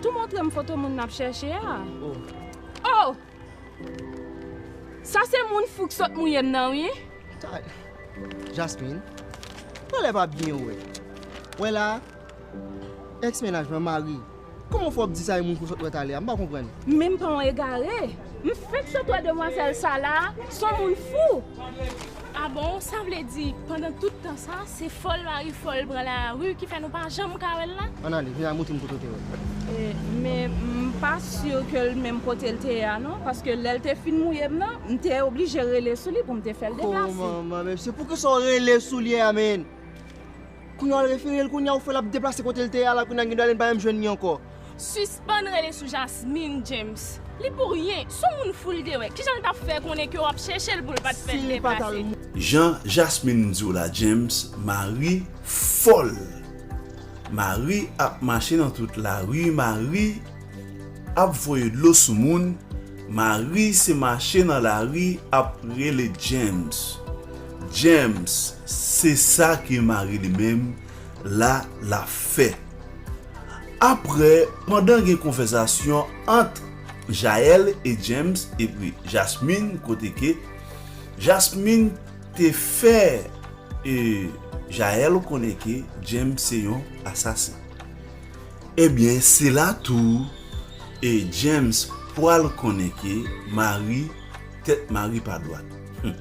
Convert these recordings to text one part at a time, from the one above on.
Tou montrem foto moun nap chèche a oh sa se moun fou k sot mouyem nan wi. Tay Jasmine pralè pa byen wè wè la ex mennaj mwen mari kòman fè wap di sa yon moun fou sot wè talè a m pa konprann. Men m pa yon egare m fenk sot wè demwazèl sa la son moun fou. Ah bon sa vle di pandan tout tan sa se fòl mari fòl pran la rue ki fè nou pa janm ka wèl la? An ale vin al moutrim kote w te wèl. Men m pa sur ke l menm kote l te ye a non paske lè l te fin mouye m nan m te oblije rele sou li pou m te fè l deplase. Hoo manman men se pou kisa w rele sou li a menn. Kounya wal referel kounya ou fè lap deplase kotel te ye a la kounya gendwa lin pa menm jwenn li ankò. Sispann rele sou Jasmine James li pou ryen sou moun foul te wè kijan l tap fè konnen ke wap chèchel poul pat fèl deplase. Jan Jasmine diw la James mari fòl mari ap mache nan tout lari mari ap voye dlo sou moun mari se mache nan lari ap rele James James Se sa ke mari li menm la la fè. Aprè, pandan gen konvèzasyon ant Jael e James epi Jasmine kote ke Jasmine te fè e Jael konnen ke James se yon asasen. Ebyen se la tou e James pwal konnen ke mari tèt mari pa dwat. Hum.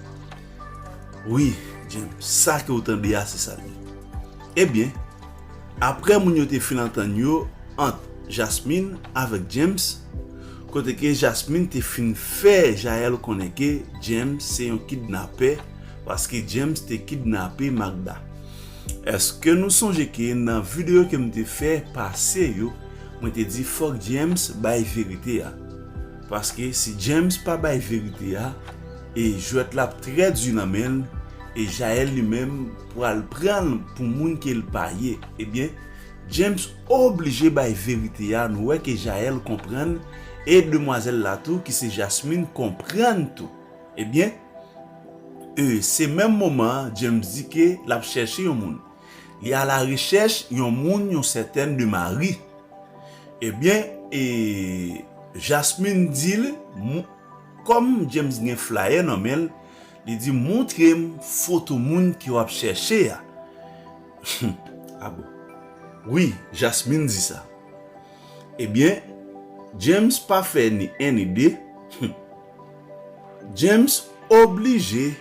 Wi, James, sa ke ou tande a se sa l ye. Ebyen, apre moun yo te fin antann yo ant Jasmine avèk James, kote ke Jasmine te fin fè Jael konnen ke James se yon kidnapè paske James te kidnape Magda. Eske nou sonje ke nan videyo ke m te fè pase yo, mwen te di fòk James bay verite a? Paske si James pa bay verite a e jwèt la ap trè di nan men l e Jael li menm pral pran l pou moun ke l pa ye ebyen James oblije bay verite a nou wè ke Jael konprann e demwazèl la tou ki se Jasmine konprann tou ebyen e se menm moman an James di ke l ap chèche yon moun. Li ala rechèch yon moun yon sètèn de Mari. Ebyen e Jasmine di l kòm James gen flayè nan men l, li di montre m foto moun ke w ap chèche a. Humm a bon. Wi, Jasmine di sa. Ebyen James pa fè ni 1 ni 2, humm. James oblije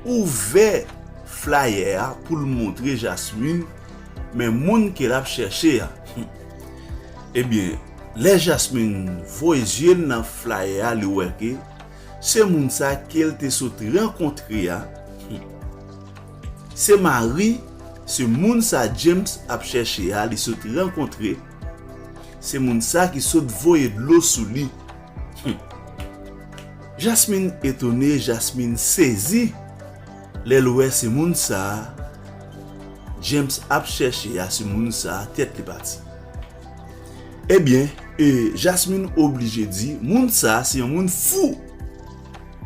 ouvè flayè a pou l montre Jasmine men moun ke l ap chèche a. Ebyen, lè Jasmine voye zye l nan flayè a li wè ke se moun sa ke l te sot rankontre a se mari se moun sa James ap chèche a li sot rankontre. Se moun sa ki sot voye dlo sou li humm. Jasmine etone Jasmine sezi lèl wè se moun sa James ap chèche a se moun sa tèt li pati ebyen e Jasmine oblije di moun sa se yon moun fou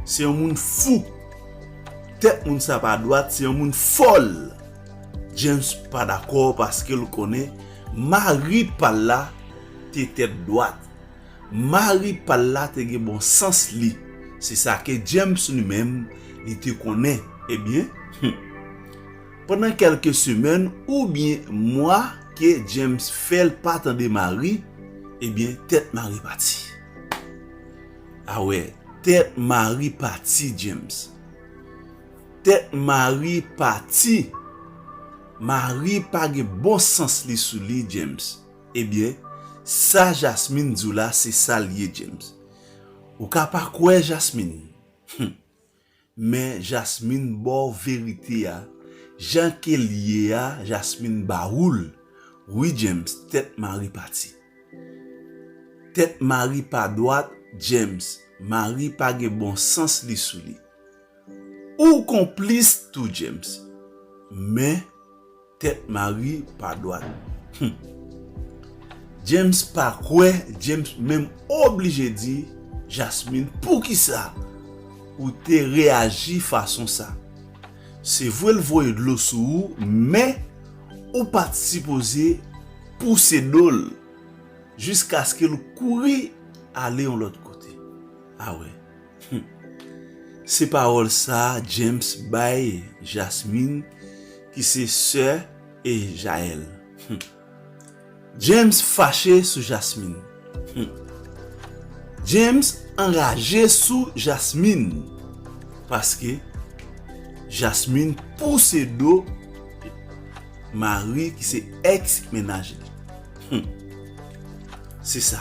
se yon moun fou tèt moun sa pa dwat se yon moun fòl James pa dakò paskel konnen Mari pa l la te tèt dwat. Mari pa l la te gen bon sans li. Se sa ke James li menm li te konnen. Ebyen, hum! Pandan kèlke semèn oubyen mwa ke James fè l pa tande Mari, ebyen tèt Mari pati. A wè, tèt Mari pati, James. Tèt mari pati. Mari pa gen bon sans li sou li James ebyen sa jasmine diw la se sal ye James ou ka pa kwè jasmine humm men jasmine baw verite a jan kel ye a jasmine ba oul wi James tèt mari pati tèt mari pa dwat James mari pa gen bon sans li sou li. Ou konplis tou James. Men Tet Marie pa dwat. Humm. James pa kwe James menm oblije di Jasmine poukisa ou te reaji fason sa. Se vre l voye dlo sou ou men ou pat sipoze pouse do l jiskaske l kouri ale yon lot kote. A we. Humm se pawòl sa James bay Jasmine ki se sè e Jael humm James fache sou Jasmine humm James anraje sou Jasmine paske Jasmine pouse do mari ki se ex mennaj li humm se sa.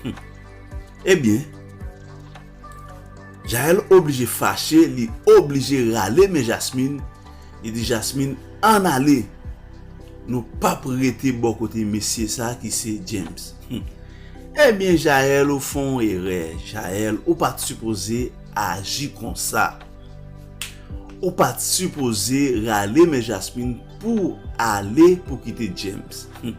Humm ebyen Jael oblije fache li oblije rale men Jasmine li di Jasmine ann ale nou pap rete bò kote mesye sa ki se James humm ebyen Jael ou fè yon erè Jael ou pat sipoze aji konsa ou pat sipoze rale men Jasmine pouw ale pou kite James humm.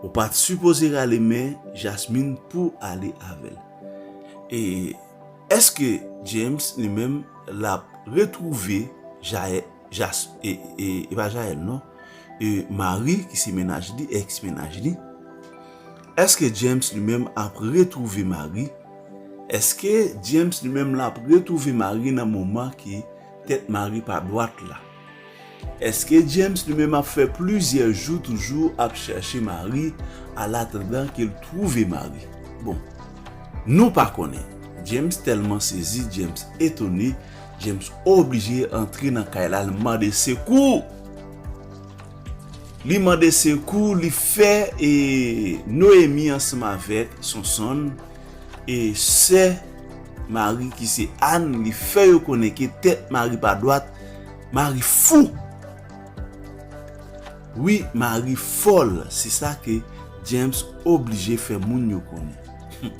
Ou pat sipoze rale men jasmine pouw ale avèl e eske James li menm lap retrouve jael jas e epa jael non e mari ki se mennaj li ex mennaj li eske James li menm ap retrouve mari eske James li menm lap retrouve mari nan moman ki tèt mari pa dwat la. Eske James li menm ap fè plizyè jou toujou ap chache mari alatandan ke l twouve mari? Bon, nou pa konnen. James tèlman sezi, James etone, James oblije antre nan kay la l mande sekou! Li mande sekou, li fè e Noémie ansanm avèk Sonsonn e sè mari ki se Anne li fè yo konnen ke tèt mari pa dwat Mari fou! Wi Mari fòl se sa ke James oblije fè moun yo konnen. Hum.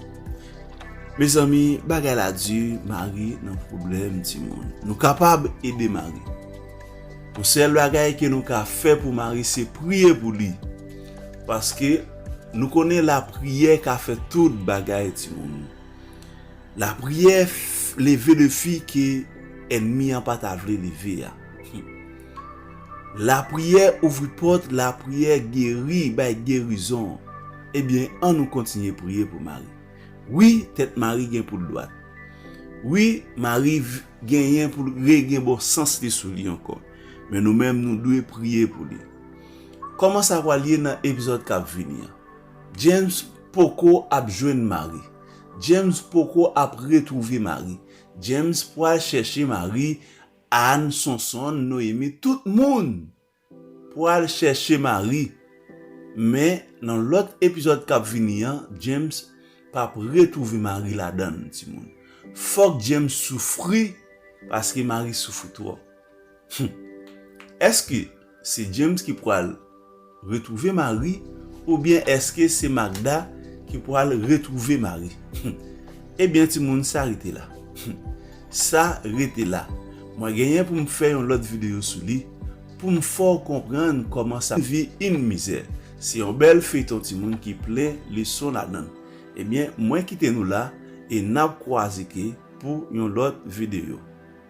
Mezanmi bagay la di Mari nan pwoblèm timoun. Nou kapab ede Mari. Yon sèl bagay ke nou ka fè pou Mari se priye pou li. Paske nou konnen lapriyè ka fè tout bagay timoun. Lapriyè leve defi ke ènmi an pa ta vle leve a. Lapriyè ouvri pòt, lapriyè geri, bay gerizon. Ebyen, an nou kontinye priye pou Mari. Wi, tèt Mari gen pou l dwat. Wi, Mari genyen pou l regen bon sans li sou li ankò. Men nou menm nou dwe priye pou li. Kòman sa pral ye nan epizòd k ap vini an? James poko ap jwenn Mari. James poko ap retrouve Marie. James pwal chèche Marie Anne Sonsonn Noémie tout moun pwal chèche Marie men nan lòt epizòd kap vini an James pap retrouve Marie ladann timoun fòk James soufri paske Marie soufri twòp. Humm eske se James ki pwal retrouve Mari oubyen eske se Magda ki pwal retrouve Mari humm ebyen ti moun sa rete la humm sa rete la mwen genyen pou m fè yon lòt video sou li pou m fè w konprann kòman sa vi yn mizè se yon bèl feyton ti moun ki plen leson ladan l ebyen mwen kite nou la e nap kwaze ke pou yon lòt video.